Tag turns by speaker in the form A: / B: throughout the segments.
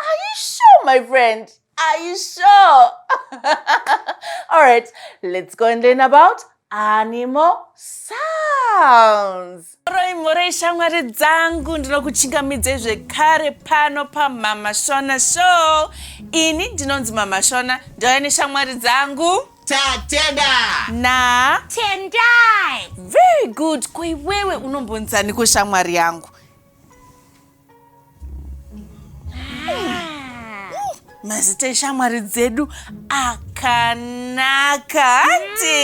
A: Are you sure my friend? Are you sure? All right, let's go and learn about animal sounds. Moroi moroi shamwari dzangu ndinokuchingamidzei zvekare pano pamama shona show ini ndinonzi mama shona ndauya neshamwari dzangu tatenda
B: na
A: tendai
C: very good
A: koiwewe unombonzani kushamwari yangu mazita eshamwari dzedu akanaka hanti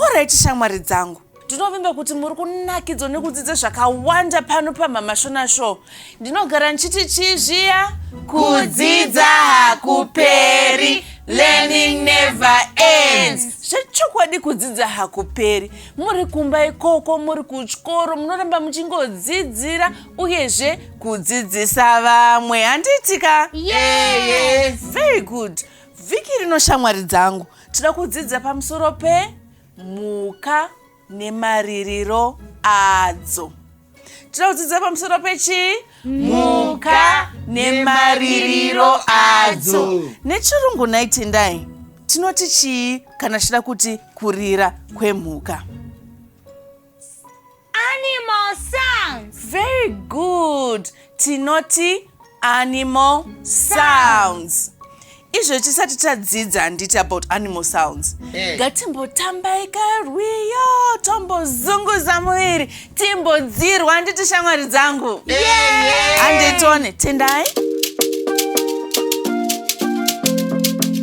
A: oraiti shamwari dzangu ndinovimba kuti muri kunakidzwa nekudzidza zvakawanda pano pamama shona show ndinogara ndichiti chii zviya kudzidza hakuperi learning never ends zvechokwadi kudzidza hakuperi muri kumba ikoko muri kuchikoro munoramba muchingodzidzira uyezve kudzidzisa vamwe handiitika yes.
C: very good
A: vhiki rino shamwari dzangu tinoda kudzidza pamusoro pemhuka nemaririro adzo tinodzidza pamusoro pechii mhuka nemaririro adzo nechirungu nhai tendai tinoti chii kana tichida kuti kurira kwemhuka
C: animal sounds very
A: good tinoti animal sounds izvo tisati tadzidza handiti about animal sounds eh. ngatimbotambai hey. karwiyo tombozunguza muviri timbodzirwa handiti shamwari dzangu handitone yeah. yeah. tendai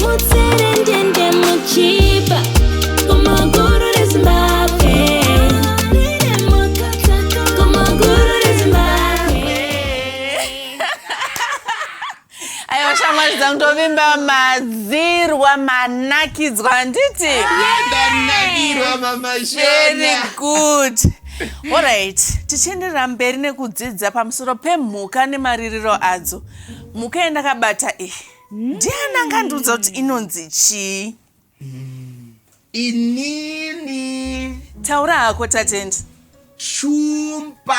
A: mutserendende muchipa kumaguru rezimbabwe kumaguru rezimbabwe aiwa shamwari dzangu tovimba madzirwa manakidzwa handiti Ndanakirwa
B: mama very Shona. good
A: alright tichienderera mberi nekudzidza pamusoro pemhuka nemaririro adzo mhuka yandakabata iyi mm. ndiani angandiudza kuti inonzi chii mm.
B: inini taura hako
A: tatendi shumba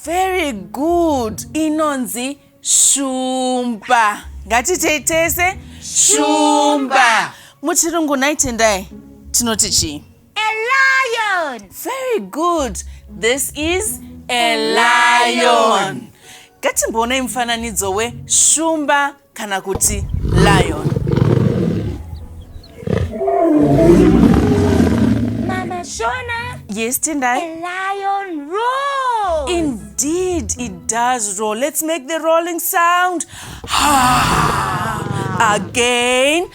A: very
B: good
A: inonzi shumba ngatiitei tese shumba muchirungu nhai tendai tinoti chii A lion.
C: Very good.
A: This is a lion. Ngatimboonai mufananidzo weshumba kana kuti lion.
C: Mama Shona. Yes, Tendai. A
A: lion
C: roars. Indeed,
A: it does roar. Let's make the rolling sound. Again.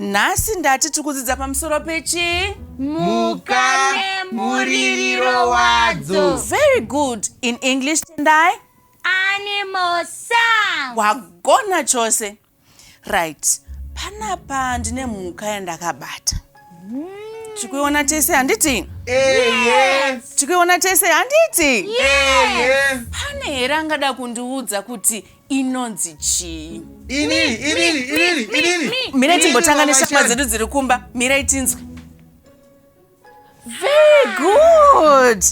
A: Nhasi ndati tikudzidza pamusoro pechi Muka
B: nemuririro wadzo. Very good.
A: In English Tendai? Animal
C: sound. Wagona
A: chose. Right. Panapa ndine mhuka yandakabata. Tikuiona tese handiti? Eye.
B: Tikuiona tese
A: handiti? Eye.
B: Pane here
A: angada kundiudza kuti inonzi chii inini inini
B: inini inini mirai
A: timbotanga neshama dzedu dziri kumba mirai tinzwe very good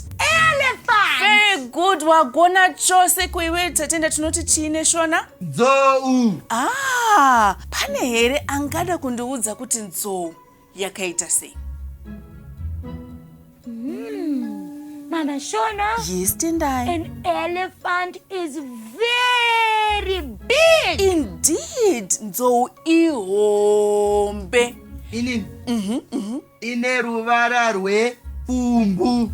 C: very good
A: wagona chose kuiwe tatenda tinoti chii neshona nzou
B: ah
A: pane here angada kundiudza kuti nzou yakaita sei hmm,
C: mama shona yes tendai
A: an elephant
C: is very big indeed
A: nzou ihombe inin
B: mhm, mhm. ine ruvara rwepfumbu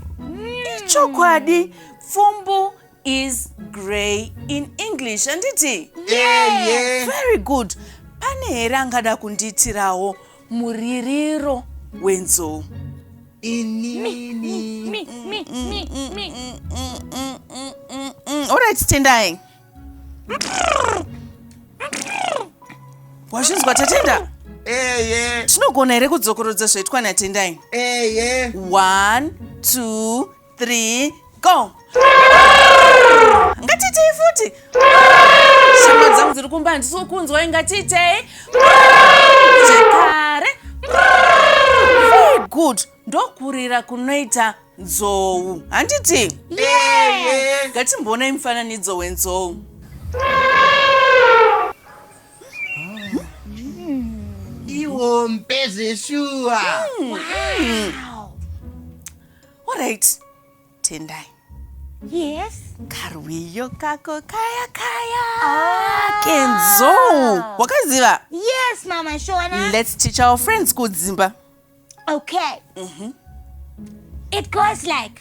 A: ichokwadi hmm. pfumbu is grey in english handiti yeah, yeah.
B: very good
A: pane here angada kundiitirawo muririro wenzou orit tendai wazvinzwa tatenda
B: tinogona here
A: kudzokorodza zvaitwa natendai one two 3 go ngatiitei futi shama dzangu dziri kumba handisi kukunzwai ngatiitei zvekare good ndokurira kunoita nzou handiti
B: ngatimboonai
A: mufananidzo wenzou
B: iwo mpezeshuwa hmm.
A: Alright, Tendai. Yes.
C: Karwiyo
A: kako kaya kaya. Ah. Kenzo, wakaziva? Yes, mama
C: Shona. Let's teach our friends
A: kudzimba. Okay.
C: Mm -hmm. It goes like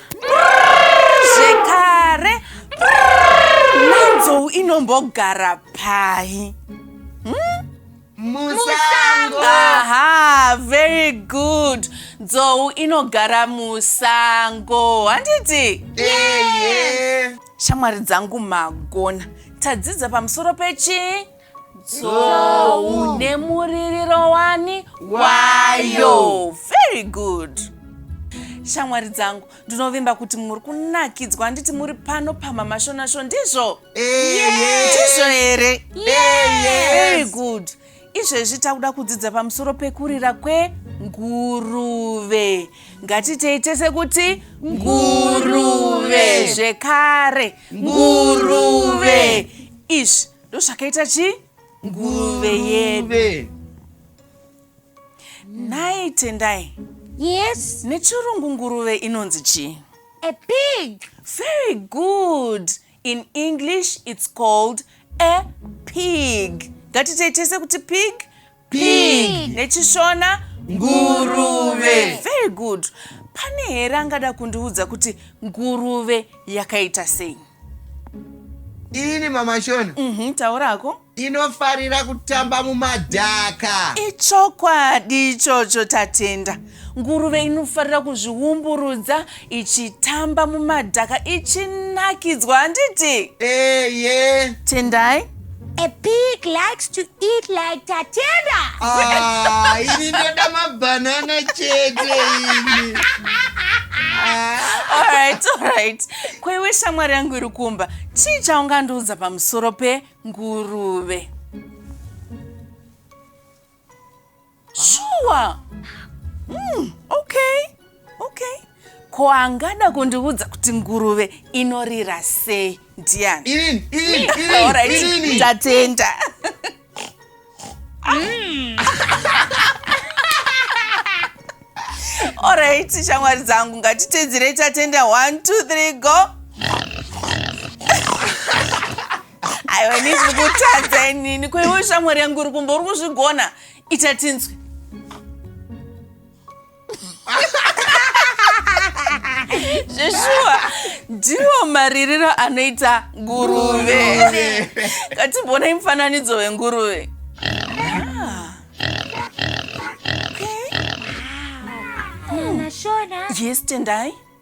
A: zvekare nenzou inombogara pai hmm? musango aha very good nzou inogara musango handiti shamwari dzangu magona tadzidza pamusoro pechi Tsowu. Nemuririro wani wayo. Very good. Shamwari dzangu, ndinovimba kuti muri kunakidzwa handiti muri pano pamama Shona Show ndizvo? Ndizvo here? Very good. Izvezvi takuda kudzidza pamusoro pekurira kwenguruve. Ngatitei tese kuti nguruve zvekare. Nguruve. Izvi ndozvakaita chii nguruve yedu nhai tendai yes
C: nechirungu nguruve
A: inonzi chii a pig
C: very
A: good in english it's called a pig ngatitei tese kuti pig pig
C: nechishona
A: nguruve very good pane here angada kundiudza kuti nguruve yakaita sei
B: ini mamashona mm -hmm, taurako
A: inofarira
B: kutamba mumadhaka ichokwadi
A: ichocho tatenda Nguruve inofarira kuzviumburudza ichitamba mumadhaka ichinakidzwa handiti? Eye. Tendai. A
C: pig likes to eat like Tatenda. Ah,
B: ini ndoda mabanana chete ini. All
A: right, all right. Kwaiwe shamwari yangu iri kumba, chii chaungandiudza pamusoro penguruve? shuwa mm, okay okay ko angada kundiudza kuti nguruve inorira sei ndiani Irini, irini,
B: irini, Alright, irini.
A: ndatenda orit shamwari dzangu ngatitedzerei tatenda 1 2 3 go aiwa ini zviri kutadza inini ko iwe shamwari yangu uri kumba uri kuzvigona ita tinzwe zveshuwa ndiwo maririro anoita nguruve katimbonai mufananidzo wenguruve
C: Ah. Okay. Hmm. yes tendai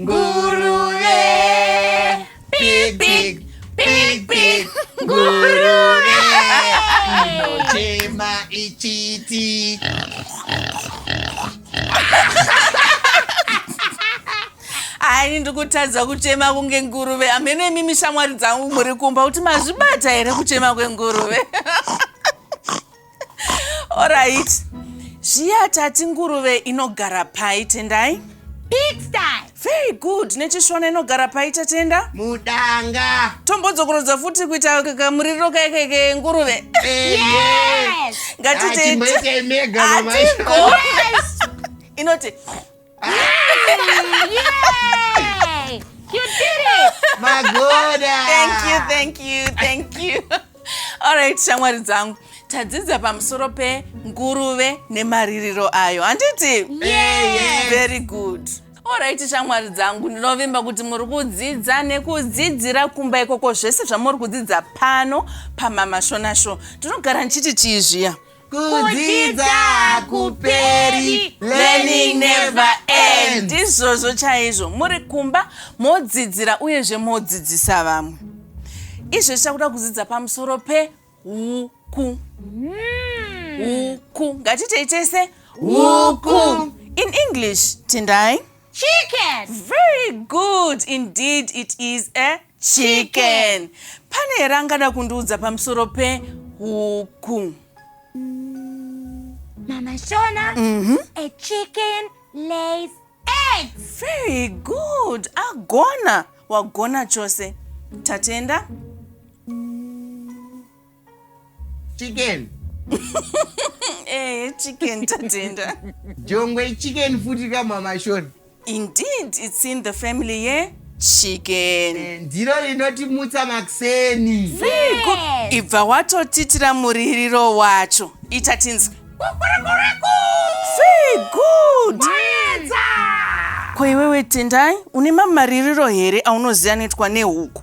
C: Nguruve
B: Big big big big Nguruve
C: Inochema
B: ichiti
A: Ani ndikutadza kuchema kunge nguruve amene imimi shamwari dzangu muri kumba kuti mazvibata here kuchema kwenguruve Alright. Zviya tati nguruve inogara pai tendai? Pigsty.
C: Very good.
A: Nechishona inogara pai tatenda? Mudanga.
B: Tombodzokorodza
A: futi kuita kakamuriro kaike kenguruve. Yes.
C: Ngatite.
A: Atimboitei mega
B: mama. Atigone. Yes.
C: Inoti.
B: Alright,
A: shamwari dzangu tadzidza pamusoro penguruve nemaririro ayo handiti
C: very good
A: orit shamwari dzangu ndinovimba kuti muri kudzidza nekudzidzira kumba ikoko zvese zvamuri kudzidza pano pamamashonasho ndinogara ndichiti chii zviya kudzidza
B: hakuperi learning never end ndizvozvo chaizvo
A: muri kumba modzidzira uyezve modzidzisa vamwe izvo zvichakuda kudzidza pamusoro peuku hmm. uku ngatitei tese uku in english tindai chicken
C: very
A: good indeed it is a eh? chicken pane here angada kundiudza pamusoro pehuku
C: mama shona mm -hmm. a chicken lays eggs very
A: good agona wagona chose tatenda
B: chicken
A: eh chicken tatenda jongwe
B: chicken futi kamamashoni indeed
A: it's in the family ye yeah? chicken eh, ndiro
B: rinotimutsa makuseni
A: ibva watotitira muririro wacho ita tinzwe good ko iwewe tendai une mamaririro here aunoziva anoitwa nehuku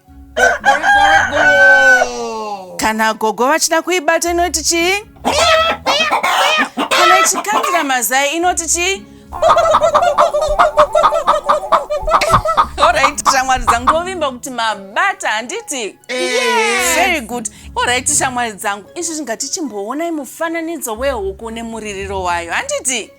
A: kana gogo vachida kuibata inoti chii kana ichikandira mazai inoti chii orit shamwari dzangu ndovimba kuti mabata handiti very good orit shamwari dzangu izvi zvingati chimboonai mufananidzo wehuku nemuririro wayo handiti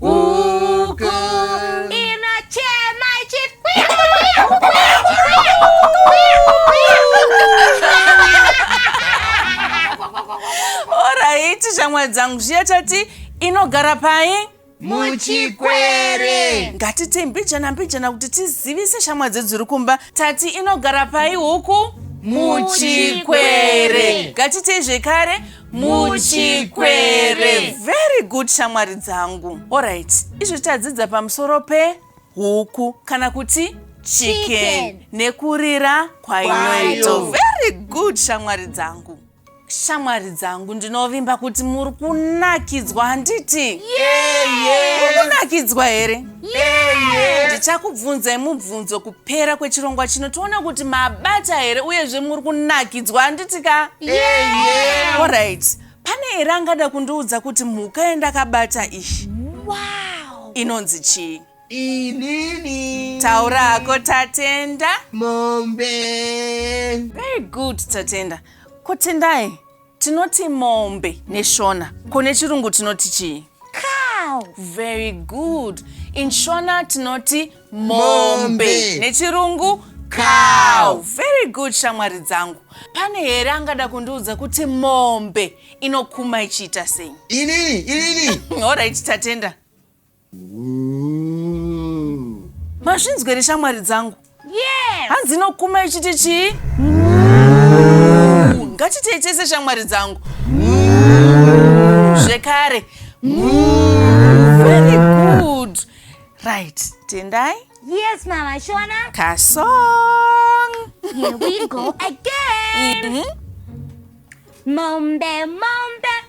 C: Huku inochema ichiti kwiya, kwiya, kwiya, kwiya,
A: kwiya, kwiya. Oraiti shamwari dzangu zviya tati inogara pai? muchikwere
B: Ngatiitei mbijana
A: mbijana kuti tizivise shamwari dzedu dziri kumba tati inogara pai huku? Muchikwere. Ngatiitei zvekare muchikwere very good shamwari dzangu orit izvi tadzidza pamusoro pehuku kana kuti chicken nekurira kwainoito very good shamwari dzangu shamwari dzangu ndinovimba kuti muri kunakidzwa handiti mukunakidzwa here ndichakubvunzai mubvunzo pera kwechirongwa chino toona kuti mabata here uyezve muri kunakidzwa handiti ka yeah. orit pane here angada kundiudza kuti mhuka yendakabata iyi wow. inonzi chii inini
B: taura hako
A: tatenda mombe very good tatenda kotendai Tinoti mombe neShona. Ko nechirungu tinoti chii? Cow.
C: Very
A: good. In Shona tinoti mombe. Nechirungu cow. Very good shamwari dzangu. Pane here angada kundiudza kuti mombe inokuma ichiita sei? Inini, inini.
B: Alright, tatenda.
A: Mazvinzwa here shamwari dzangu? Yes! Hanzi
C: inokuma ichiti
A: chii? Ngatiitei tese shamwari dzangu. Zvekare. Very good. Right. Tendai. Yes, mama.
C: Shona. Kasong.
A: Here we
C: go again. Mm -hmm. Mombe, mombe.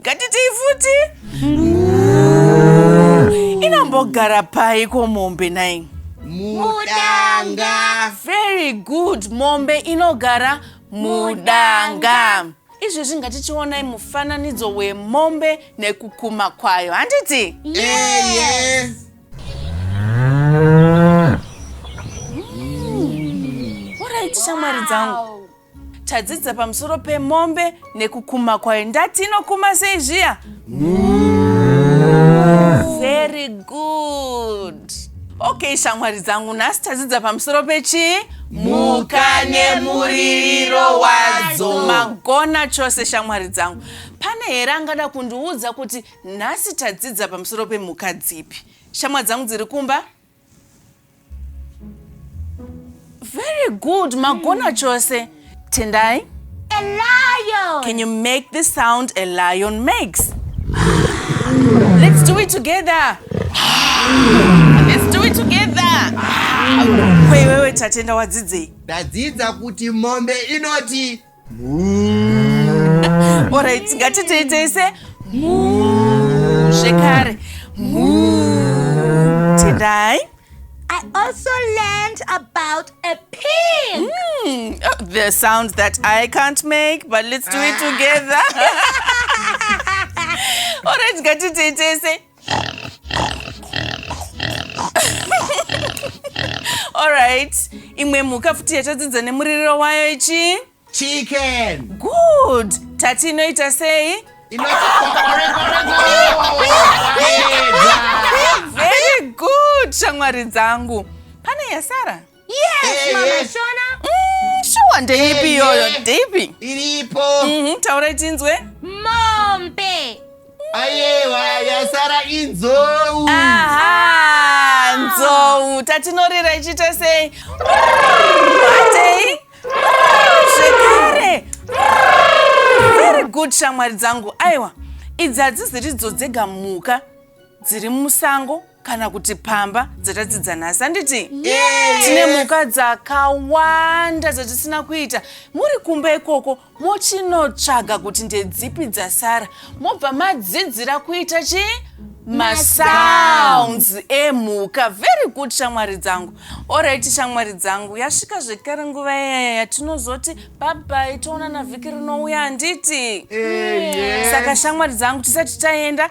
A: Ngatitii futi. Inambogara pai ko mombe nai? Mudanga. Very good. Mombe
B: inogara
A: mudanga. Izvezvi ngatichionai mufananidzo wemombe nekukuma kwayo. Handiti? Eye. Alright shamwari dzangu. Tadzidza pamusoro pemombe nekukuma kwayo. Ndati inokuma sei zviya? Very good. Okay shamwari dzangu nhasi tadzidza pamusoro pechii? Mhuka
B: nemuririro wadzo. Magona
A: chose shamwari dzangu. Pane here angada kundiudza kuti Nhasi tadzidza pamusoro pemhuka dzipi? Shamwa dzangu dziri kumba? Very good, magona chose. Tendai? A
C: lion! Can you make the
A: sound a lion makes? Let's do it together. Let's do it together. Wewe wewe tatenda wadzidzei? Ndadzidza kuti
B: mombe inoti
A: Alright, ngatitei tese muu zvekare muu tendai I
C: also learned about a pig. Mm, oh, the
A: sound that I can't make, but let's do it together. Alright, ngatitei tese Alright, imwe mhuka futi yatadzidza nemuririro wayo ichi? Chicken.
B: Good.
A: Tati inoita sei? Very good, shamwari dzangu. Pane yasara? Yes, mama eh.
C: Shona. Mm, shuwa
A: ndeipi eh, iyoyo? Eh. Ndeipi? Iripo. Mhm,
B: taurai tinzwe.
A: Mombe.
C: Ayewa
B: yasara inzou. Aha, ah.
A: nzou. Tatinorira ichiita sei? Atei? Zvekare. Very good shamwari dzangu. Aiwa. Idzi hadziziridzo dzega mhuka dziri musango kana kuti pamba dzatadzidza nhasi handiti tine mhuka dzakawanda dzatisina kuita muri kumba ikoko mochinotsvaga kuti ndedzipi dzasara mobva madzidzira kuita chi masounds emhuka very good shamwari dzangu orit shamwari dzangu yasvika zvekare nguva yaya yatinozoti babai toonana vhiki rinouya handiti saka shamwari dzangu tisati taenda